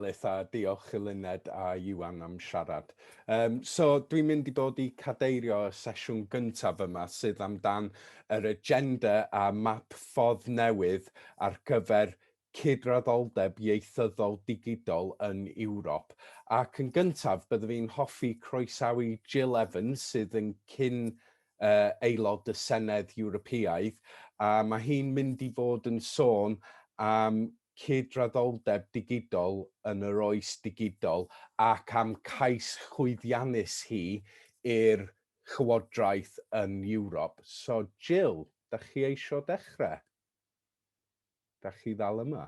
Ellis a diolch i Luned a Iwan am siarad. Um, so, dwi'n mynd i bod i cadeirio y sesiwn gyntaf yma sydd amdan yr agenda a map ffordd newydd ar gyfer cydraddoldeb ieithyddol digidol yn Ewrop. Ac yn gyntaf, byddaf i'n hoffi croesawu Jill Evans sydd yn cyn aelod y Senedd Ewropeaidd, a mae hi'n mynd i fod yn sôn am cydraddoldeb digidol yn yr oes digidol ac am cais llwyddiannus hi i'r Llywodraeth yn Ewrop. So, Jill, da chi eisiau dechrau? Da chi ddal yma?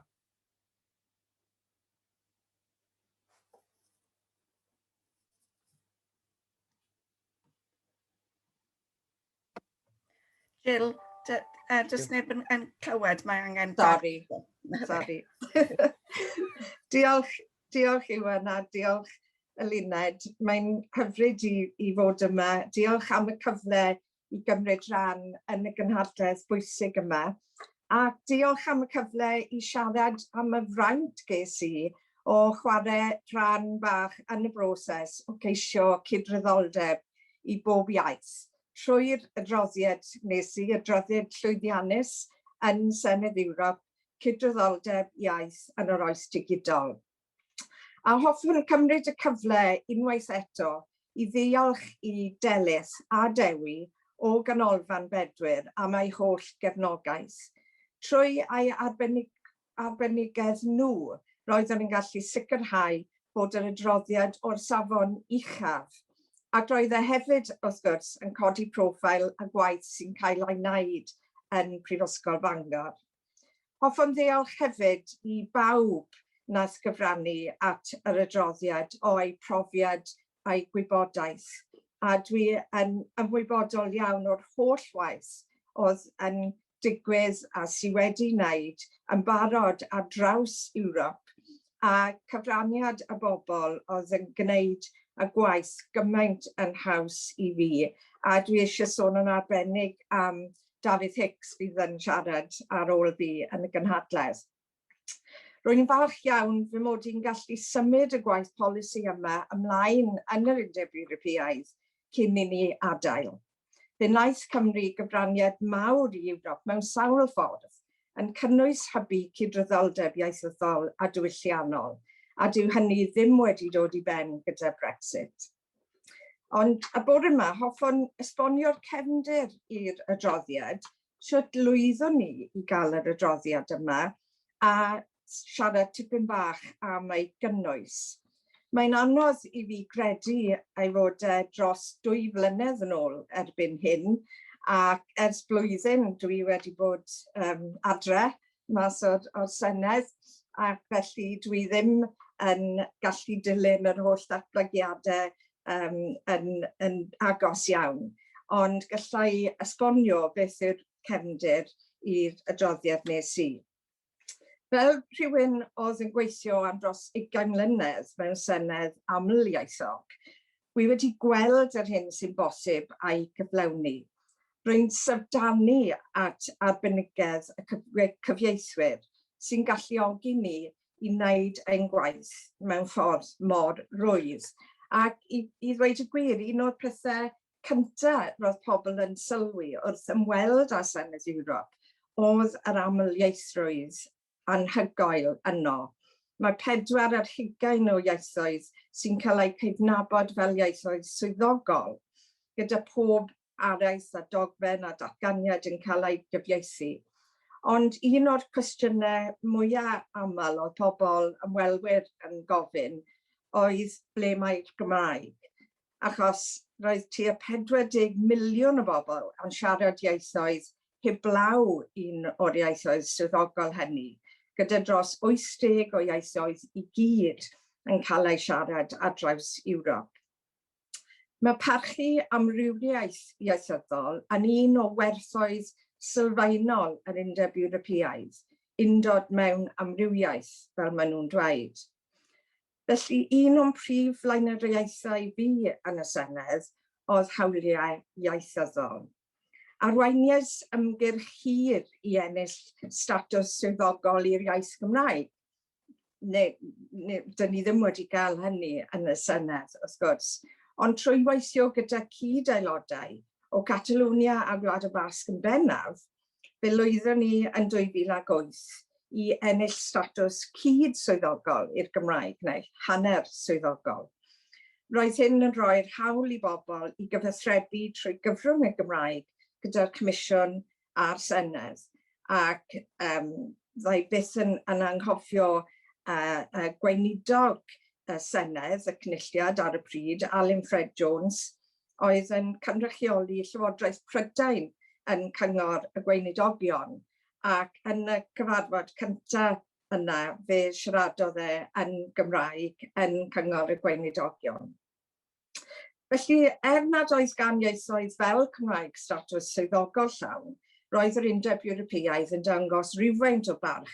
Jill, uh, does neb yn, yn clywed, mae angen... Sorry, sorry. diolch, diolch Iwan a diolch Eluned. Mae'n hyfryd i, i fod yma. Diolch am y cyfle i gymryd rhan yn y gynhadledd bwysig yma, ac diolch am y cyfle i siarad am y fraint ges i o chwarae rhan bach yn y broses o geisio cydraddoldeb i bob iaith, trwy'r adroddiad wnes i, adroddiad llwyddiannus yn Senedd Ewrop, Cydraddoldeb Iaith yn yr Oes Digidol. A hoffwn gymryd y cyfle unwaith eto i ddiolch i Delyth a Dewi o Ganolfan Bedwyr am eu holl gefnogaeth. Trwy eu arbenigedd nhw, roeddwn yn gallu sicrhau bod yr adroddiad o'r safon uchaf, ac roedd e hefyd, wrth gwrs, yn codi profile y gwaith sy'n cael ei wneud yn Prifysgol Bangor. Hoffwn ddiolch hefyd i bawb wnaeth gyfrannu at yr adroddiad o'u profiad a'u gwybodaeth, a dwi yn ymwybodol iawn o'r holl waith oedd yn digwydd a sy' wedi wneud yn barod ar draws Ewrop, a cyfraniad y bobl oedd yn gwneud y gwaith gymaint yn haws i fi, a dwi eisiau sôn yn arbennig am Dafydd Hicks fydd yn siarad ar ôl fi yn y gynhadledd. Rwy'n yn falch iawn fy mod i'n gallu symud y gwaith polisi yma ymlaen yn yr Undeb Ewropeaidd cyn i ni adael. Fe wnaeth Cymru gyfraniad mawr i Ewrop mewn sawl ffordd, yn cynnwys hybu cydraddoldeb ieithyddol a diwylliannol, a dyw hynny ddim wedi dod i ben gyda Brexit. Ond y bore yma, hoffwn esbonio'r cefndir i'r adroddiad, sut lwyddwn ni i gael yr adroddiad yma, a siarad tipyn bach am ei gynnwys. Mae'n anodd i fi gredu ei fod e dros dwy flynedd yn ôl erbyn hyn, ac ers blwyddyn dwi wedi bod um, adre, mas o'r, or Senedd, ac felly dwi ddim yn gallu dilyn yr holl ddatblygiadau um, yn, yn agos iawn. Ond gallai esbonio beth yw'r cefndir i'r adroddiad nes i. Fel rhywun oedd yn gweithio am dros 20 mlynedd mewn Senedd amlieithog, Wi wedi gweld yr hyn sy'n bosib a'i gyflawni. Rwy'n syfrdanu at arbenigedd y cyfieithwyr sy'n galluogi ni i wneud ein gwaith mewn ffordd mor rwydd. Ac i i ddweud y gwir, un o'r pethau cynta roedd pobl yn sylwi wrth ymweld â Senedd Ewrop oedd yr amlieithrwydd anhygoel yno. Mae pedwar ar hugain o ieithoedd sy'n cael eu cydnabod fel ieithoedd swyddogol, gyda phob araith a dogfen a datganiad yn cael eu cyfieithu. Ond un o'r cwestiynau mwya' aml oedd pobl, ymwelwyr, yn gofyn oedd ble mae'r Gymraeg? achos roedd tua 40 miliwn o bobl yn siarad ieithoedd heblaw un o'r ieithoedd swyddogol hynny, gyda dros 80 o ieithoedd i gyd yn cael eu siarad ar draws Ewrop. Mae parchu amrywiaeth ieithyddol yn un o werthoedd sylfaenol yr Undeb Ewropeaidd, undod mewn amrywiaeth, fel maen nhw'n dweud. Felly, un o'n prif flaenoriaethau fi yn y Senedd oedd hawliau ieithyddol. Arweiniais ymgyrch hir i ennill statws swyddogol i'r iaith Gymraeg. Ne, ne, dyn ni ddim wedi cael hynny yn y Senedd, wrth gwrs. Ond trwy weithio gyda cyd-aelodau o Catalonia a Gwlad y Basg yn bennaf, fe lwyddon ni yn 2008 i ennill statws cyd-swyddogol i'r Gymraeg, neu hanner swyddogol. Roedd hyn yn rhoi'r hawl i bobl i gyfathrebu trwy gyfrwng y Gymraeg gyda'r Comisiwn a'r Senedd, ac um, fydda i byth yn, yn anghofio uh, uh, gweinidog y Senedd, y Cynulliad ar y pryd, Alun Ffred Jones, oedd yn cynrychioli Llywodraeth Prydain yn Cyngor y Gweinidogion ac yn y cyfarfod cynta yna fe siaradodd e yn Gymraeg yn Cyngor y Gweinidogion. Felly, er nad oedd gan ieithoedd fel Cymraeg statws swyddogol llawn, roedd yr Undeb Ewropeaidd yn dangos rywfaint o barch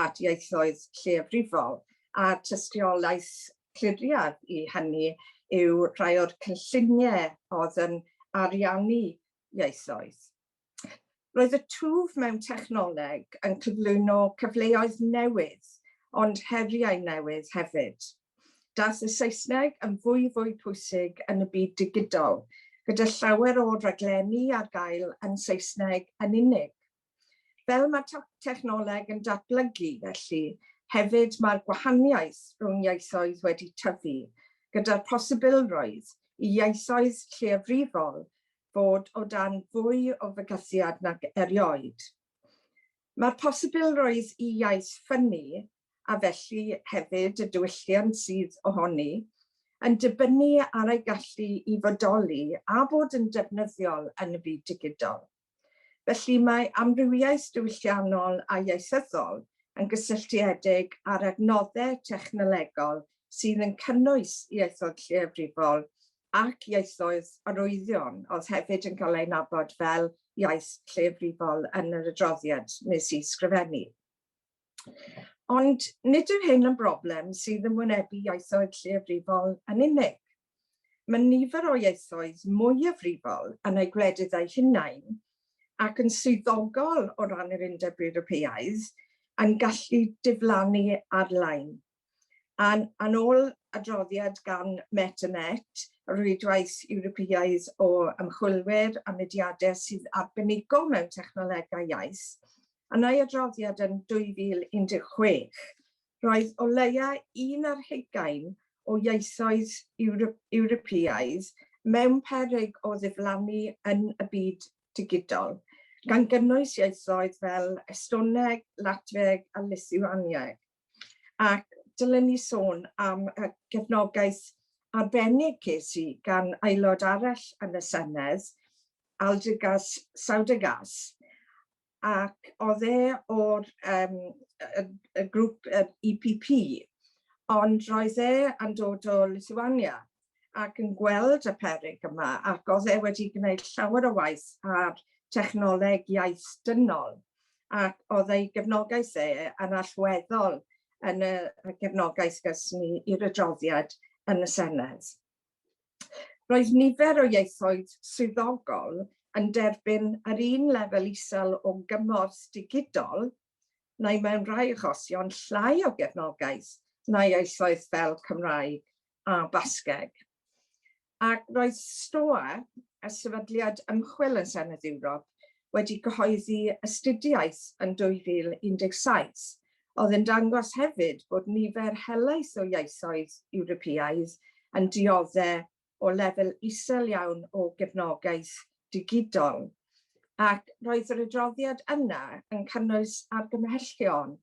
at ieithoedd lleiafrifol a tystiolaeth cliriaf i hynny yw rhai o'r cynlluniau oedd yn ariannu ieithoedd. Roedd y twf mewn technoleg yn cyflwyno cyfleoedd newydd, ond heriau newydd hefyd. Daeth y Saesneg yn fwyfwy pwysig yn y byd digidol, gyda llawer o raglenni ar gael yn Saesneg yn unig. Fel mae technoleg yn datblygu, felly, hefyd mae'r gwahaniaeth rhwng ieithoedd wedi tyfu, gyda'r posibilrwydd i ieithoedd lleiafrifol fod o dan fwy o fygythiad nag erioed. Mae'r posibilrwydd i iaith ffynnu, a felly hefyd y diwylliant sydd ohoni, yn dibynnu ar ei gallu i fodoli a bod yn defnyddiol yn y byd digidol. Felly mae amrywiaeth diwylliannol a ieithyddol yn gysylltiedig â'r adnodde technolegol sydd yn cynnwys ieithoedd lleiafrifol ac ieithoedd arwyddion oedd hefyd yn cael eu nabod fel iaith lleiafrifol yn yr adroddiad nes i sgrifennu. Ond nid yw hyn yn broblem sydd yn wynebu ieithoedd lleiafrifol yn unig. Mae nifer o ieithoedd mwyafrifol yn eu gwledydd eu hunain, ac yn swyddogol o ran yr Undeb Ewropeaidd, yn gallu diflannu ar-lein. Yn yn ôl adroddiad gan Met a Met, y rwydwaith Ewropeaidd o ymchwilwyr a mudiadau sydd arbenigo mewn technolegau iaith, yn ei adroddiad yn 2016, roedd o leia un ar hugain o ieithoedd Ewropeaidd mewn peryg o ddiflannu yn y byd digidol, gan gynnwys ieithoedd fel Estoneg, Latfieg a Lithuanieg. Ac dylen ni sôn am y gefnogaeth arbennig ces i gan aelod arall yn y Senedd, Aldrigas Saudargas, ac oedd e o'r um, y, y grŵp y EPP, ond roedd e yn dod o Lithuania ac yn gweld y perig yma ac oedd e wedi gwneud llawer o waith ar technoleg iaith dynol ac oedd ei gefnogaeth e yn allweddol yn y gefnogaeth gysni i'r adroddiad yn y Senedd. Roedd nifer o ieithoedd swyddogol yn derbyn yr un lefel isel o gymorth digidol, neu mewn rhai achosion llai o gefnogaeth na ieithoedd fel Cymraeg a Basgeg. Ac roedd STOA, y sefydliad ymchwil yn Senedd Ewrop, wedi cyhoeddi astudiaeth yn 2017 oedd yn dangos hefyd bod nifer helaeth o ieithoedd Ewropeaidd yn dioddef o lefel isel iawn o gefnogaeth digidol, ac roedd yr adroddiad yna yn cynnwys argymhellion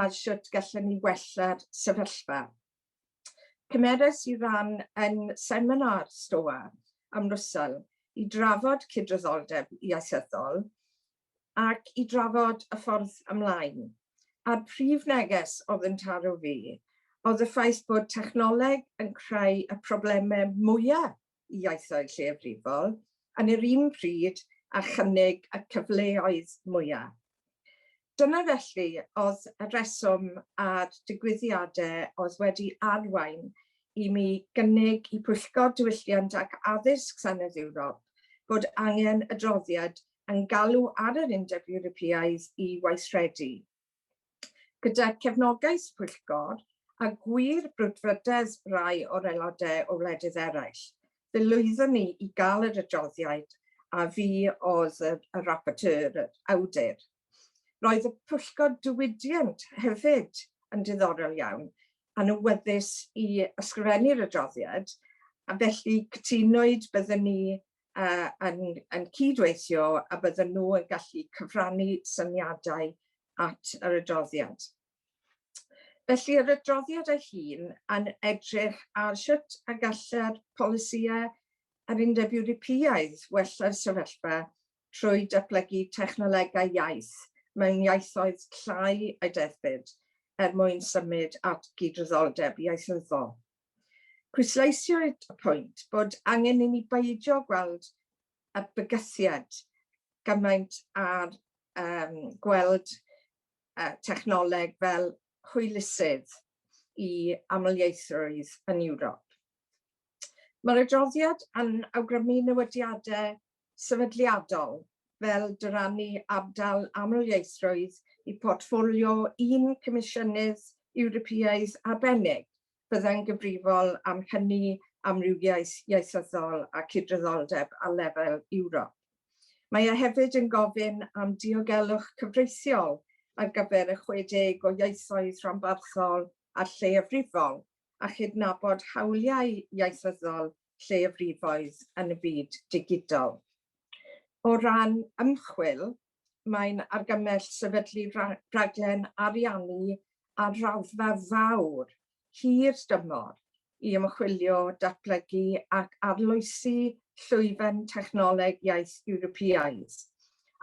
ar sut gallwn ni wella'r sefyllfa. Cymerais i ran yn seminar Stoa am Russell i drafod cydraddoldeb ieithyddol, ac i drafod y ffordd ymlaen. A'r prif neges oedd yn taro fi oedd y ffaith bod technoleg yn creu y problemau mwyaf i iaithoedd lleiafrifol yn yr un pryd a chynnig y cyfleoedd mwyaf. Dyna felly oedd y rheswm a'r digwyddiadau oedd wedi arwain i mi gynnig i Pwyllgor Diwylliant ac Addysg Senedd Ewrop bod angen adroddiad yn galw ar yr Undeb Ewropeaidd i weithredu, gyda chefnogaeth y pwyllgor a gwir brwdfrydedd rai o'r aelodau o wledydd eraill, fe lwyddon ni i gael yr adroddiad a fi oedd y rapporteur, yr awdur. Roedd y pwyllgor diwydiant hefyd yn diddorol iawn, yn awyddus i ysgrifennu'r adroddiad, a felly cytunwyd bydden ni uh, yn, yn cydweithio a bydden nhw yn gallu cyfrannu syniadau at yr adroddiad. Felly yr adroddiad ei hun yn edrych ar sut a gallai'r polisïau a'r Undeb Ewropeaidd wella'r sefyllfa trwy datblygu technolegau iaith mewn iaithoedd llai a deddfyd er mwyn symud at gydraddoldeb ieithyddol. Pwysleisiodd y pwynt bod angen i ni beidio gweld y bygythiad gymaint â'r um, gweld uh, technoleg fel hwylusydd i amlieithrwydd yn Ewrop. Mae'r adroddiad yn awgrymu newidiadau sefydliadol fel dyrannu ardal amlieithrwydd i portffolio un Comisiynydd Ewropeaidd arbennig byddai'n gyfrifol am hynny, amrywiaeth ieithyddol a cydraddoldeb ar lefel Ewrop. Mae e hefyd yn gofyn am diogelwch cyfreithiol ar gyfer y 60 o ieithoedd rhanbarthol a lleiafrifol a chydnabod hawliau ieithyddol lleiafrifoedd yn y byd digidol. O ran ymchwil, mae'n argymell sefydlu rhaglen ariannu ar raddfa fawr, hir dymor i ymchwilio, datblygu ac arloesi llwyfan technoleg iaith Ewropeaidd,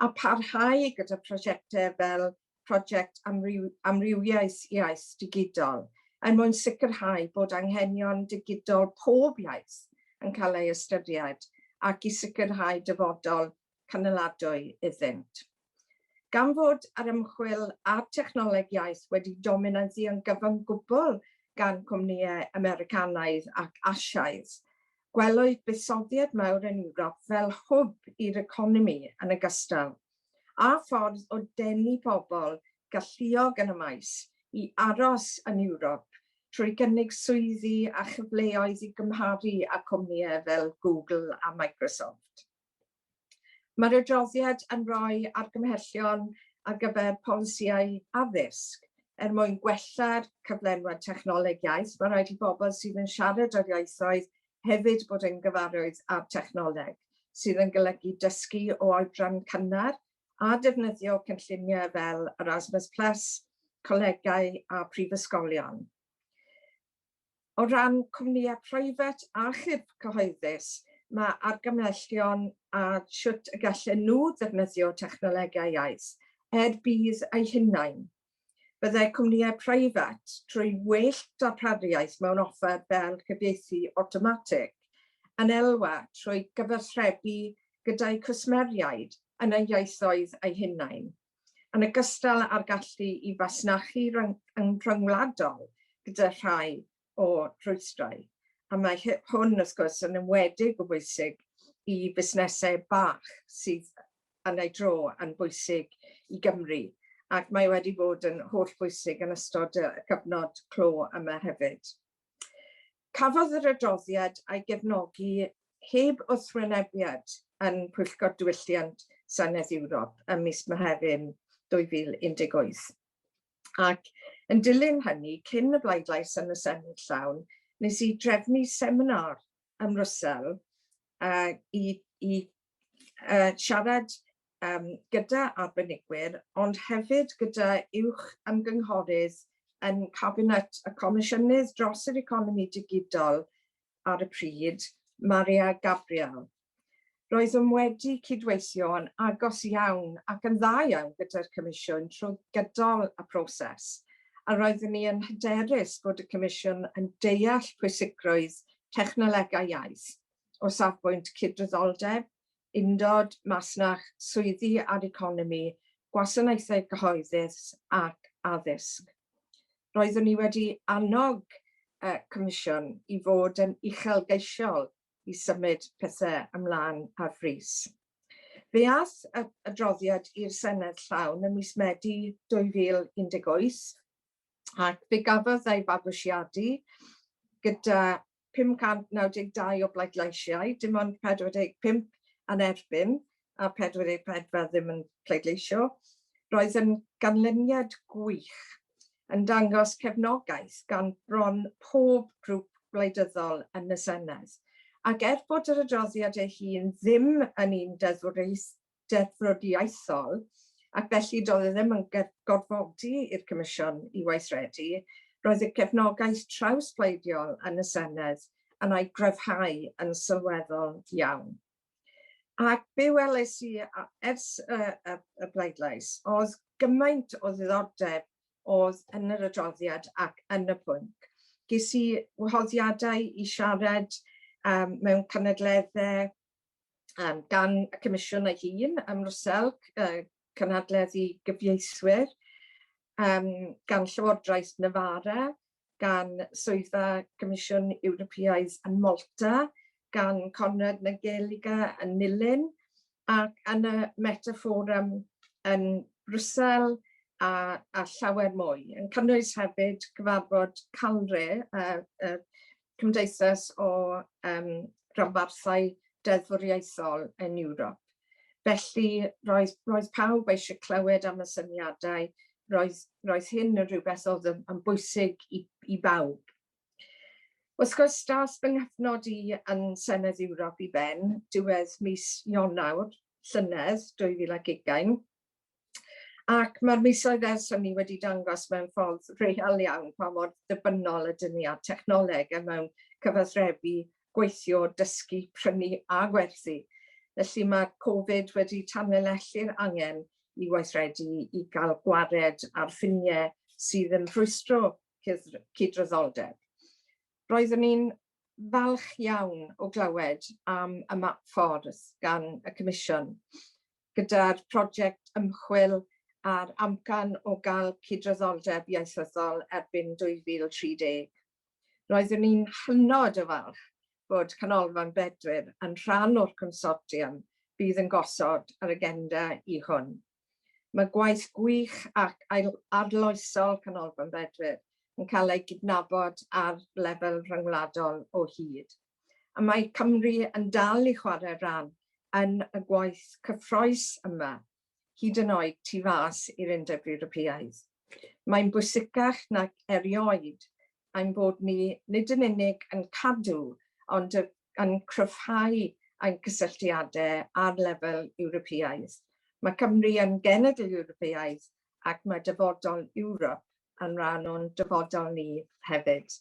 a pharhau gyda phrosiectau fel Project Amrywiaeth Iaith Digidol er mwyn sicrhau bod anghenion digidol pob iaith yn cael ei ystyried ac i sicrhau dyfodol canoladwy iddynt. Gan fod yr ymchwil a'r technoleg iaith wedi dominyddu yn gyfyng gwbl gan gwmnïau Americanaidd ac Asiaidd, gwelwyd buddsoddiad mawr yn Ewrop fel hwb i'r economi yn ogystal â ffordd o denu pobl galluog yn y maes i aros yn Ewrop trwy gynnig swyddi a chyfleoedd i gymharu â chwmnïau fel Google a Microsoft. Mae'r adroddiad yn rhoi argymhellion ar gyfer polisïau addysg er mwyn gwella'r cyflenwad technoleg iaith. Mae'n rhaid i bobl sydd yn siarad yr ieithoedd hefyd bod yn gyfarwydd â'r technoleg, sydd yn golygu dysgu o oedran cynnar a defnyddio cynlluniau fel Erasmus Plus, colegau a phrifysgolion. O ran cwmnïau preifat a chyb cyhoeddus, mae argymhellion ar sut y gallen nhw ddefnyddio technolegau iaith er budd eu hunain. Byddai cwmnïau preifat, trwy well darpariaeth mewn offer fel cyfieithu awtomatig, yn elwa trwy gyfathrebu gyda'u cwsmeriaid yn eu ieithoedd eu hunain. yn ogystal â'r gallu i fasnachu rhyngwladol gyda rhai o rwystrau, a mae hwn wrth gwrs yn enwedig o bwysig i fusnesau bach sydd yn ei dro yn bwysig i Gymru, ac mae wedi bod yn hollbwysig yn ystod y cyfnod clo yma hefyd. Cafodd yr adroddiad a'i gefnogi heb wrthwynebiad yn Pwyllgor Diwylliant Senedd Ewrop ym mis Mehefin 2018, ac yn dilyn hynny, cyn y bleidlais yn y Senedd llawn, nes i drefnu seminar ym Mrwsel i siarad yym gyda arbenigwyr, ond hefyd gyda uwch ymgynghorydd yn Cabinet y Comisiynydd dros yr Economi Digidol ar y pryd, Maria Gabriel. Roeddwn wedi cydweithio yn agos iawn ac yn dda iawn gyda'r Comisiwn trwy gydol y proses, a roeddwn i yn hyderus bod y Comisiwn yn deall pwysigrwydd technolegau iaith o safbwynt cydraddoldeb, Undod, Masnach, Swyddi a'r Economi, Gwasanaethau Cyhoeddus ac Addysg. Roeddwn i wedi annog y Comisiwn i fod yn uchelgeisiol i symud pethau ymlaen ar frys. Fe aeth yr adroddiad i'r Senedd llawn ym mis Medi 2018 ac fe gafodd ei fabwysiadu gyda 592 o bleidleisiau, dim ond 45 yn erbyn a 44 ddim yn pleidleisio. Roedd yn ganlyniad gwych, yn dangos cefnogaeth gan bron pob grŵp gwleidyddol yn y Senedd. Ac er bod yr adroddiad ei hun ddim yn un deddfwriaethol, deddfwriaethol ac felly doedd e ddim yn gorfodi i'r Comisiwn i weithredu, roedd y gefnogaeth trawsbleidiol yn y Senedd yn ei gryfhau yn sylweddol iawn. Ac be weles i ers y y y bleidlais oedd gymaint o ddiddordeb oedd yn yr adroddiad ac yn y pwnc. Ges i wahoddiadau i siarad yym mewn cynadledde um, gan y Comisiwn ei hun, am Rwsel, uh, cynhadledd i gyfieithwyr, um, gan Llywodraeth Navarra, gan Swyddfa Comisiwn Ewropeaidd yn Malta, gan Conrad Nageliga yn Nilyn, ac yn y Metaforum yn Brwsel, a, a llawer mwy, yn cynnwys hefyd cyfarfod Calre, uh, uh, cymdeithas o yym ranbarthau deddfwriaethol yn Ewrop, felly roedd roedd pawb eisiau clywed am y syniadau, roedd roedd hyn yn rhywbeth oedd yn yn bwysig i i bawb. Wrth gwrs daeth fy nghyfnod i yn Senedd Ewrop i ben diwedd mis Ionawr llynedd 2020, Ac mae'r misoedd ers hynny wedi dangos mewn ffordd real iawn pa mor ddibynnol ydyn ni ar technoleg a mewn cyfathrebu, gweithio, dysgu, prynu a gwerthu. Felly mae Covid wedi tanlinellu'r angen i weithredu i gael gwared ar ffiniau sydd yn rhwystro cydraddoldeb. Roeddwn i'n falch iawn o glywed am y map ffordd gan y Comisiwn. gyda'r project ymchwil a'r amcan o gael cydraddoldeb ieithyddol erbyn 2030. Roeddwn i'n hynod o falch bod Canolfan Bedwyr yn rhan o'r consortiwm fydd yn gosod yr agenda i hwn. Mae gwaith gwych ac arloesol Canolfan Bedwyr yn cael ei gydnabod ar lefel rhyngwladol o hyd. a mae Cymru yn dal i chwarae rhan yn y gwaith cyffrous yma, hyd yn oed tu fas i'r Undeb Ewropeaidd. Mae'n bwysicach nag erioed ein bod ni nid yn unig yn cadw ond yn cryfhau ein cysylltiadau ar lefel Ewropeaidd. Mae Cymru yn genedl Ewropeaidd ac mae dyfodol Ewrop yn rhan o'n dyfodol ni hefyd.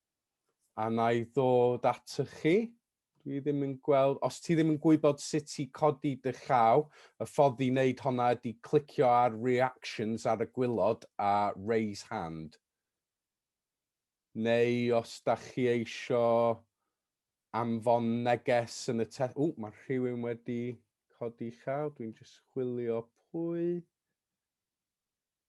A na i ddod ato chi. Dwi ddim yn gweld, os ti ddim yn gwybod sut i codi dy llaw, y ffordd i wneud honna ydy clicio ar reactions ar y gwylod a raise hand. Neu os da chi eisio anfon neges yn y te... Ww, mae rhywun wedi codi llaw, dwi'n just chwilio pwy.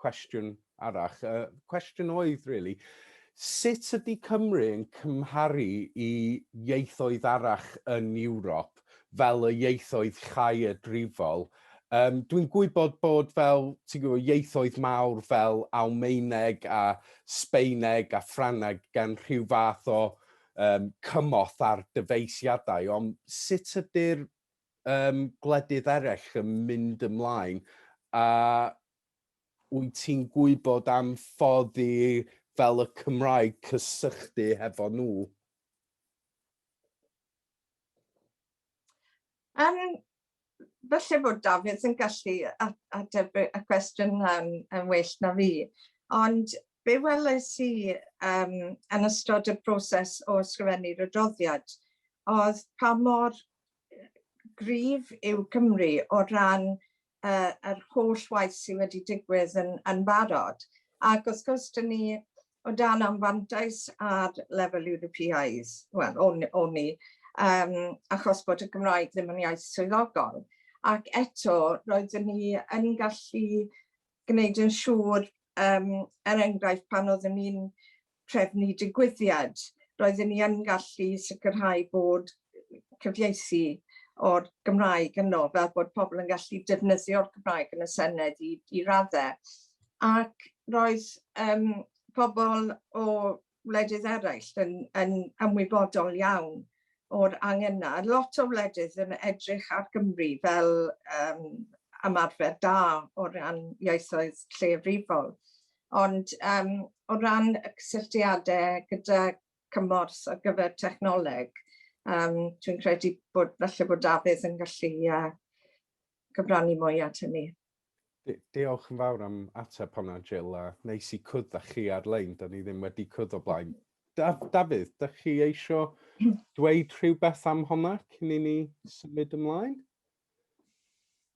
cwestiwn arall. Y cwestiwn oedd, really, sut ydy Cymru yn cymharu i ieithoedd arall yn Ewrop, fel y ieithoedd chaeadrifol? Um, Dwi'n gwybod bod fel ti'n gwybod, ieithoedd mawr fel Almaeneg a Sbeineg a Ffraneg gan rhyw fath o um, cymorth ar dyfeisiadau, ond sut ydy'r um, gwledydd eraill yn mynd ymlaen a Wyt ti'n gwybod am ffordd i fel y Cymraeg cysychtu hefo nhw? Yym, falle bod Dafydd yn gallu ateb y cwestiwn yna'n yn well na fi, ond be weles i yym yn ystod y proses o ysgrifennu'r adroddiad oedd pa mor gryf yw Cymru o ran uh, yr holl waith sydd wedi digwydd yn, yn barod. Ac wrth gwrs, dyn ni o dan anfantais ar lefel Ewropeaidd, wel, o'n, on ni, um, achos bod y Gymraeg ddim yn iaith swyddogol. Ac eto, roeddwn ni yn gallu gwneud yn siŵr, um, er enghraifft, pan oeddwn ni'n trefnu digwyddiad, roedden ni yn gallu sicrhau bod cyfieithu o'r Gymraeg yno, fel bod pobl yn gallu defnyddio'r Gymraeg yn y Senedd i, i raddau. Ac roedd um, pobl o wledydd eraill yn, yn ymwybodol iawn o'r angen yna. Lot o wledydd yn edrych ar Gymru fel um, ymarfer da o ran ieithoedd lleiafrifol. ond yym o ran y cysylltiade gyda cymorth ar gyfer technoleg yym dwi'n credu bod falle bod Dafydd yn gallu yy cyfrannu mwy at hynny. Diolch yn fawr am ateb honna, Jill, a neis i cwrdd â chi ar-lein, da ni ddim wedi cwrdd o blaen. Daf, Dafydd, da chi eisiau dweud rhywbeth am honna cyn i ni symud ymlaen?